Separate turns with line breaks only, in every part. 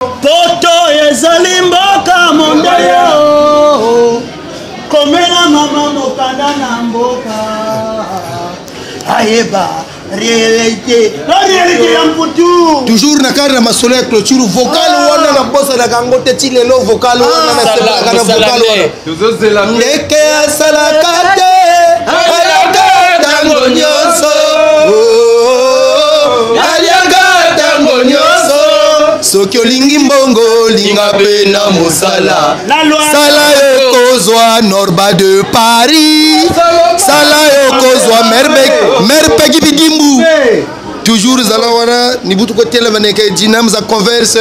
poto ezali mboka mondele o komela mama mokanda na mboka ayeba réalité la réalité ya mputu toujours na cadre ya
masolo ya clôture vocal ah. wana nabosanaka yango te ti lelo vocal wana ah. nasebolaka na vocal wana ndeke asalaka te alaka ntango nyonso aliaka ntango nyonso soki olingi mbongo linga mpe na mosala sala yokozwa norba de paris sala yokozwa mere peki bidimbu toujours zala wana nibutu kotelema neke jinam za converse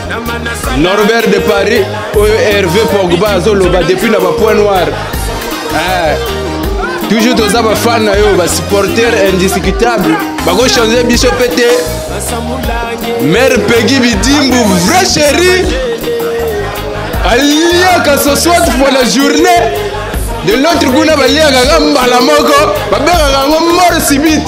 Norbert de Paris oyo Hervé Pogba azoloba depuis na ba point noir eh, toujours toza ba fan na yo ba supporter indiscutable bako changer biso pe te mère Peggy Bidimbu vrai chéri aliaka ce soit pour la journée de l'autre kuna baliaka kaka mbala moko babengaka yango mort subite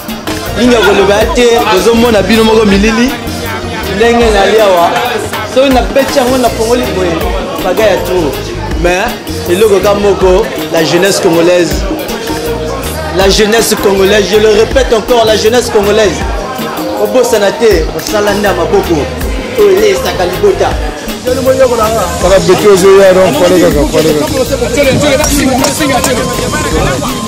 mingi ya koloba ya te bozomona bino moko milili ndenge nali awa soki nabeti yango na pongoli boye baga ya tour mais eloko ka moko la jeunesse congolaise la jeunesse congolaise je le répète encore la jeunesse congolaise obosana te osala nde ya maboko oyo eleyisaka libota
kaka beti ozoya donc pale kaka pale kaka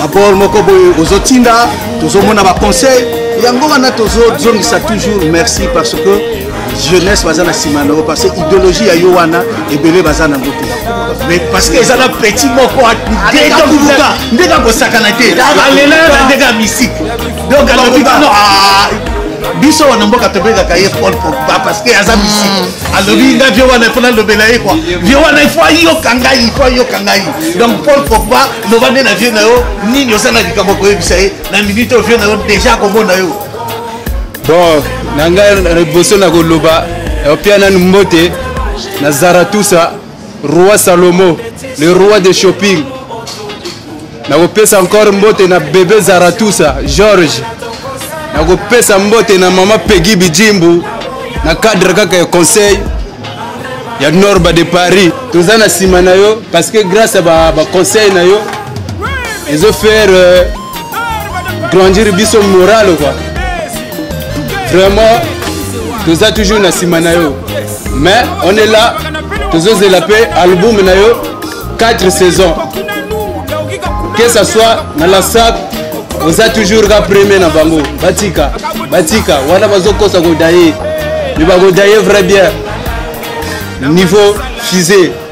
Rapport moko boye ozotinda tozomona ba conseil yango wana tozozongisa toujours merci parce que jeunesse baza na nsima na yango parce que idéologie ya yo wana ebele baza nango te mais parce que eza na petit moko ndenge akosakana te alela na ndenge ya misike donc alobi biso wana mboka tobengaka ye paul pogba parce que aza misike alobi nga vie wana ifo nalobela ye kua vie wana ifo ayoka ngai ifo ayoka ngai donc paul pogba loba nde na vie na yo nini oza na likambo koyebisa ye na minute oyo vie na yo deja akomona yo bon
na ngai liboso na koloba opia nanu mbote na zaratusa roi salomo le roi de shopping nakopesa encore mbote na bebe zaratusa george nakopesa mbote na mama pegi bijimbu na cadre kaka ya conseil ya norba de paris toza na nsima na yo parce que grâce ya baconseil ba na yo ezo faire euh, grandir biso morale quoi vraiment toza toujours na nsima na yo mais on est là tozozela mpe album na yo 4 saison que ça soit na la sac oza toujours ka premier na bango batika batika wana bazokosa kodaye me bakodaye vrai bien niveau fusé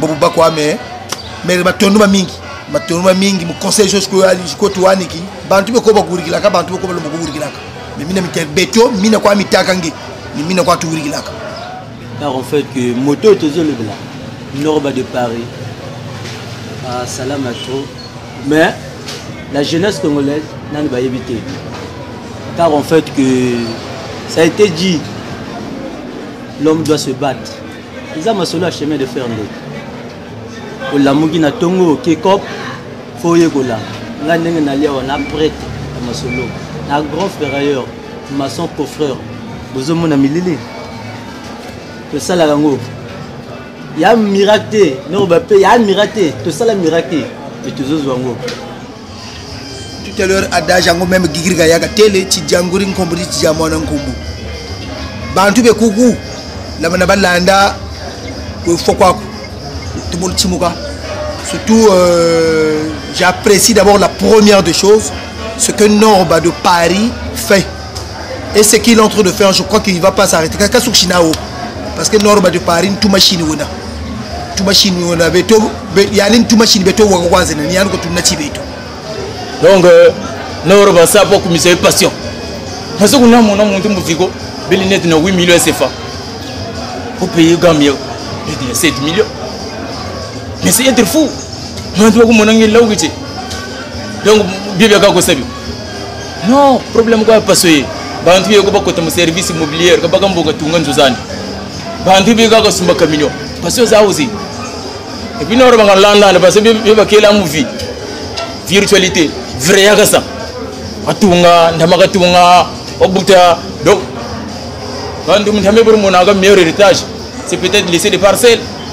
bobo bakwa
me mere batonduma mingi batonduma mingi muconseil jo sikoyo tuwaniki bantu beko bakuwurikilaka bantu beko balomba kuwurikilaka me mina mite betio mina kwa mitaka nge ni mina kwa tuwurikilaka alors en
fait que moto oyo tozolobela norba de paris asalama ah, trop mais la jeunesse congolaise nani bayebi te car en fait que ça a été dit l'homme doit se battre eza masolo ya chemin de fer nde olamuki na ntongo oke cop fo oyekola ngai ndenge nalia wana prete ya masolo na grand ferrailleur maçon coffreur bozomona milili tosalaka yango ya miracle te noko bape ya miracle te tosala miracle te me tozozwa yango
tout à l'heure adage yango meme gigirika yaka tele cijanguri nkombo ti cija mwana nkombo bantu bekuku lamana balanda fo kwako tobolu cimuka surtout euh, j'apprécie d'abord la première des choses ce que norba de paris fait et ce qu'il est en train de faire je crois qu'il ne va pas s'arrêter kaka suki na o parce que norba de paris ntuma chini wena tumashini wona beto yani tumashini beto wako kwanza nani yani ko tunna chibeto
donc euh, noro basa po kumisa e passion parce que na mona muntu muziko beli net na 8 millions CFA pour payer Gambia de 7 millions mais c'est être fou mantu ko mona ngi lawu kiche donc bibia ka ko sabi non problème ko pasoye bantu yeko bakota mu service immobilier kabaka mboka tunga nzuzani bandi bi kaka sumba camion pasi oza ozi epuis noro banga landana pasi bi bakela muvi virtualité vrai yaka sa atunga ndamaka tunga obuta donc bandu mutame pour monaka meilleur héritage c'est peut-être laisser des parcelles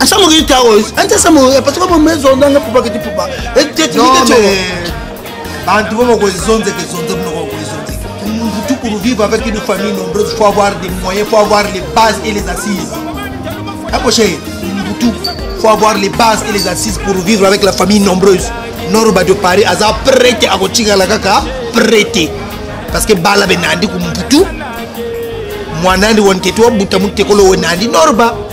Asa mo kita o, ante sa mo, parce que mo mezo ndanga pupa kiti pupa. E te ti kiti cho. Bantu mo ko
zonze ke zonze mo ko ko zonze. Tu pour vivre avec une famille nombreuse, faut avoir des moyens, faut avoir les bases et les assises. Approchez, tout, faut avoir les bases et les assises pour vivre avec la famille nombreuse. Norba de Paris, aza prêté à kotinga la kaka, prêté. Parce que bala benandi kumputu, mwanandi wanketu wabuta mutekolo wenandi norba.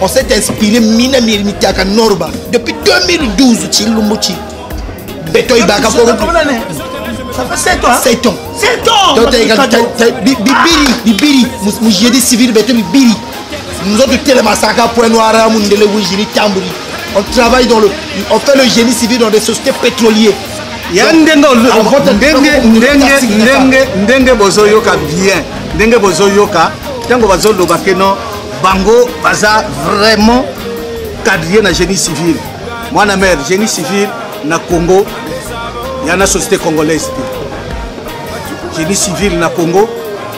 on s'est
inspiré mina mitaka norba depuis 2012 chilumbu chi beto ibaka pour Ça
fait 7 ans.
7 ans. 7 ans.
Donc, t'as bibiri,
bibiri, mujedi civil, beto bibiri. Nous autres, tout les massacres, point noir, Mundele, Wijiri, Tamburi. On travaille dans le. On fait le génie civil dans des sociétés pétrolières. ya ndenge
ndenge bozoyoka bien ndenge bozoyoka ntango bazoloba keno bango baza vraiment cadrier na génie civil mwana mare génie civil na congo ya na société congolaise te génie civil na congo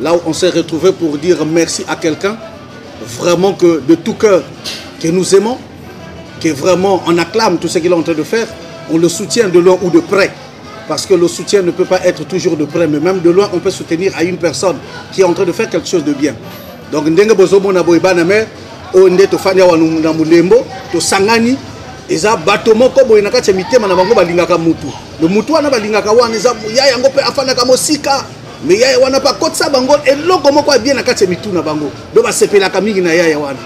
Là où on s'est retrouvé pour dire merci à quelqu'un, vraiment que de tout cœur, que nous aimons, que vraiment on acclame tout ce qu'il est en train de faire, on le soutient de loin ou de près. Parce que le soutien ne peut pas être toujours de près, mais même de loin, on peut soutenir à une personne qui est en train de faire quelque chose de bien. Donc, ndenge bozobo na boy baname, o nde to fanya wa na mulembo, to sangani, eza bato moko boye na kati ya mitema na bango balingaka mutu le mutu wana balingaka wana eza ya yango mpe afandaka mosika me yaya wana mpe akotisa bango eloko moko ya bie na kati ya mitu na bango do basepelaka mingi na yaya wana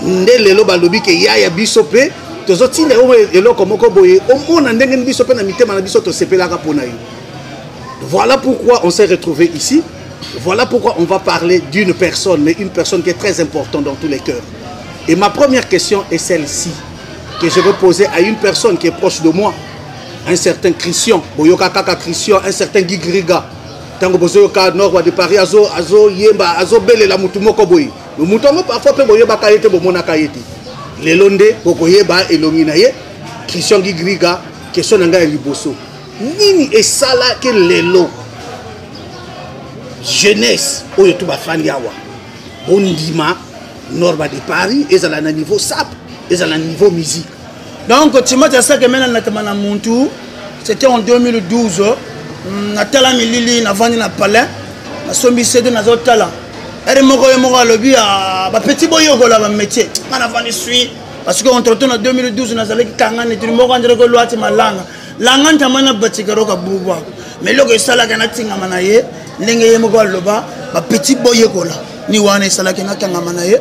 nde lelo balobi ke yaya biso mpe tozotinda yo eloko moko boye omona ndenge ni biso mpe na mitema na biso tosepelaka mpo na yo voilà pourquoi on s'est retrouvé ici voilà pourquoi on va parler d'une personne mais une personne qui est très importante dans tous les cœurs et ma première question est celle-ci que je veux poser à une personne qui est proche de moi un certain christian boyoka kaka christian un certain gigriga ntango bozoyoka norwa de paris azoyemba azo azobelela motu moko boye motu yango parfois mpe boyebaka ye te bomonaka ye te lelo nde bokoyeba elongi na ye christian gigriga question na ngai ya liboso nini esalaki lelo jeunesse oyo tu bafandi awa bondima norba de paris ezala na niveau sap ezala na niveau musique donc timati
asaki emena natema na muntu c'était en 2012 mm, natala milili navandi na palais nasombi sede nazotala ere moko ye moko alobi ah, bapeti boyokola bamétier nga navandi sui parce que entretemps na 2012 nazalaki kangani tuni moko anzelaki olwati malanga langa ntama na batikaro kabubu ako mais eloko esalaka natingama na ye ndenge ye moko aloba bapeti boyekola ni wana esalaki nakangama na ye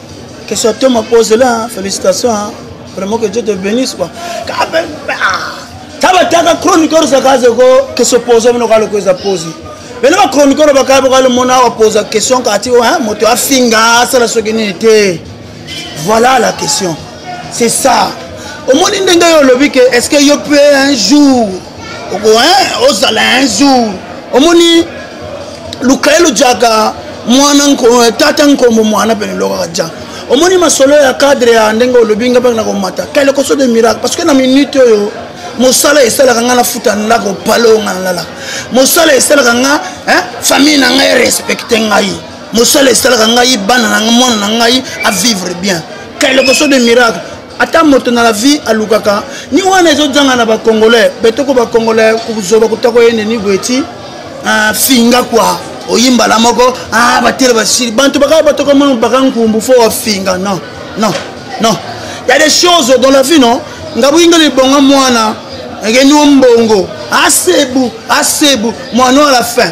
Que soit toi ma pose là, félicitations. Hein. Vraiment que Dieu te bénisse quoi. Taba taka chroniqueur sa kaze ko que se pose mino kalo ko za pose. Bele ba chroniqueur ba kabo kalo mona wa pose question ka ti hein moto afinga sala soki ni te. Voilà la question. c'est ça omoni ndenge yo olobi ke est ce que yo pe un jour ozala un jour omoni luka ye lujaka mwana eh, tata nkombo mwana pene lokaka ja omoni masolo ya cadre ya ndenge olobi nga mpe na komata kele koso de miracle parce que na minute oyo mosala esalaka ngai nafuta ndako pale oyo ngai nalalaka mosala esalaka ngai famille na ngai respecte ngai mosala esalaka ngai bana na ngai mwana na ngai avivre bien kailokoso de miracle ata moto na la vie alukaka ni wana ezojanga na bacongolais betoko bacongolais kozoba kotako yende ni boye ti ah, finga kua oyimbala moko ah, batele basili bantu bakaka batoko mono baka nkumbu fo wafinga non non non ya des choses dans la vie non nga boyinga libonga mwana ekenio mbongo asebu asebu mwana a la fin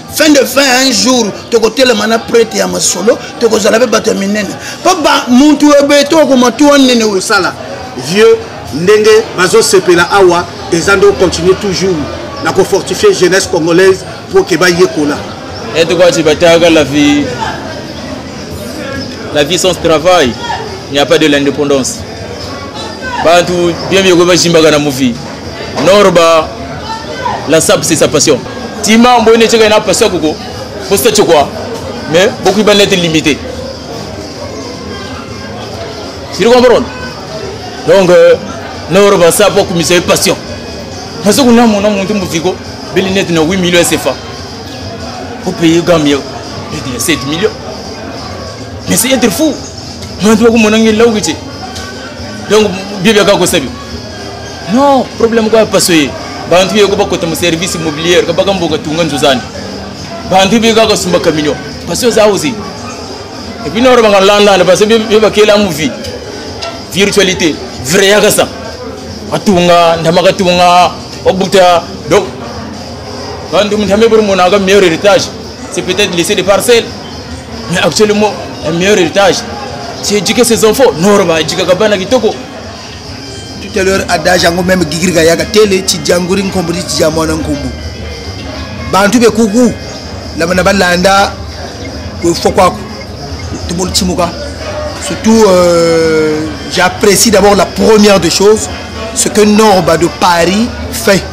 fin de fin un jour tokotelema na prete ya masolo tokozala mpe bato ya minene mpo bamuntu ebeto okoma tuwa nene osala
vieux ndenge bazosepela awa eza nde ocontinue toujours na kofortifie jeunesse congolaise mpo ke bayekola etukwaci
bataka la vie la vie sans travail il n'y a pas de l'indépendance bantu bien biekoki bazimbaka na movi Norba la sap c'est sa passion. Tima mbo ne cheka na passion koko. Posta chokwa. Mais beaucoup ba net limité. Tu comprends? Donc euh, Norba sap ko mise passion. Parce que na mona monte muziko beli net na 8 millions CFA. Pour payer Gambia 7 millions. Mais c'est être fou. Mantu ko monangi lawgiche. Donc bibia ka ko sabi. non problème kwa paso ye bantu beko bakota mu service immobilier kabaka mboka tunga nzozani bantu beka kasumba camion paso za ozi et puis noro banga landa na paso beba kela mu vie virtualité vrai ya kasa atunga ndama katunga obuta donc bantu mtame bur mona ga meilleur héritage c'est peut-être laisser des parcelles mais actuellement le meilleur héritage c'est éduquer ses enfants noro ba éduquer kabana kitoko
tout à l'heure adage yango meme gigirika yaka tele cijanguri nkombo ti cija mwana nkombo bantu be kuku na balanda kofo kwako tomoni timuka surtout euh, j'apprécie d'abord la première des choses ce que norba de paris fait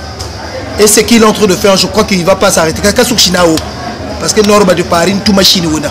et ce qu'il est en train de faire je crois qu'il ne va pas s'arrêter kaka soki china o parce que norba de paris ntuma chine wena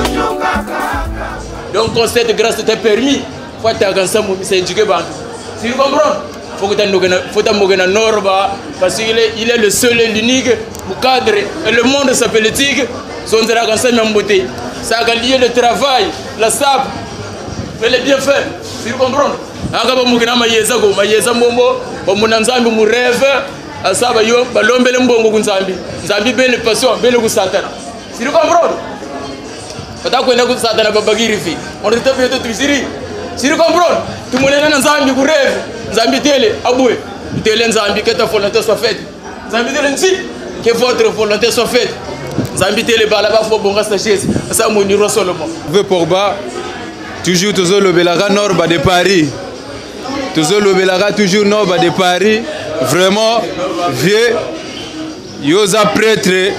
donc concert grâce était permis faut ataka nsambo misa éduquer bantu si vous comprenez faut que tandokena faut tambokena norba parce qu'il est il est le seul et l'unique pour cadre et le monde s'appelle tig zonzera kan sami mbote ça a lié le travail la sap et les bienfaits si vous comprenez aka bamokena mayeza ko mayeza mbombo bamona nzambe mu rêve asaba yo balombele mbongo ku nzambe nzambe bele passion bele ku satana Siri comprendre? Kata kwenda ku satana babagiri fi. On rete bien tout siri. Siri comprendre? Tumonena na Nzambi ku rêve. Nzambi tele abwe. Tele Nzambi que ta volonté soit faite. Nzambi tele nzi que votre volonté soit faite. Nzambi tele bala ba fo bonga sa chaise. Sa moniro Solomon. Ve Pogba
toujours tozo lobelaka Norba de Paris. Tozo lobelaka toujours Norba de Paris. Vraiment vieux yo oza pretre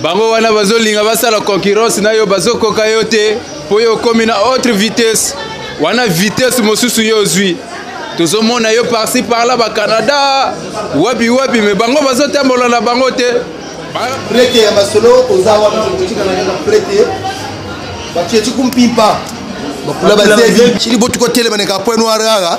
bango wana bazolinga basala concurrence na yo bazokoka yo te mpo yo okomi na autre vitesse wana vitesse mosusu yo ozwi tozomona yo parci parla bacanada wapi wapi me bango bazotambola na bango te prete
ya masolo oza wana okotikana kaka prete batie cikumpimpa bakula bazebi cili botukotelemana kapoe noir kaka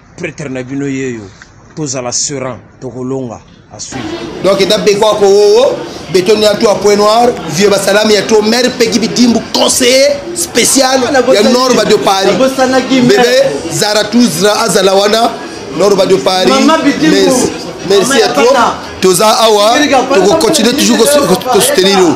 pretre na bino yeyo tozala seran tokolonga asuivi donc eda beko
akowowo betoni ya toi point noir vieux basalami ya to maire peki bidimbu conseiller spécial ah, ya norba de paris bebe zaratuzra azala wana norba de paris merci à toi toza awa tokocontinue toujours kosoutenir yo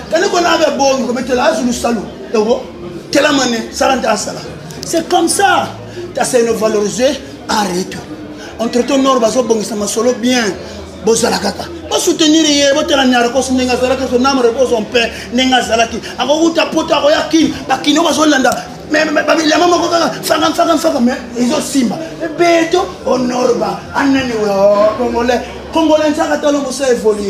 kani kona abe bongi kometela azulu salu ewo kela mane sala nte asala c'est comme ça taseno valorise arrete entretemps nord bazobongisa masolo bien bozala kaka bosoutenir ye botala narcos ndenge azalaki so nam repose en paix ndenge azalaki akokuta poto akoya kini bakino bazolanda bilamba moko kaka faka mfaka mfaka me ezosimba beto honorba anani congolais congolais nsaka talo mosa évolue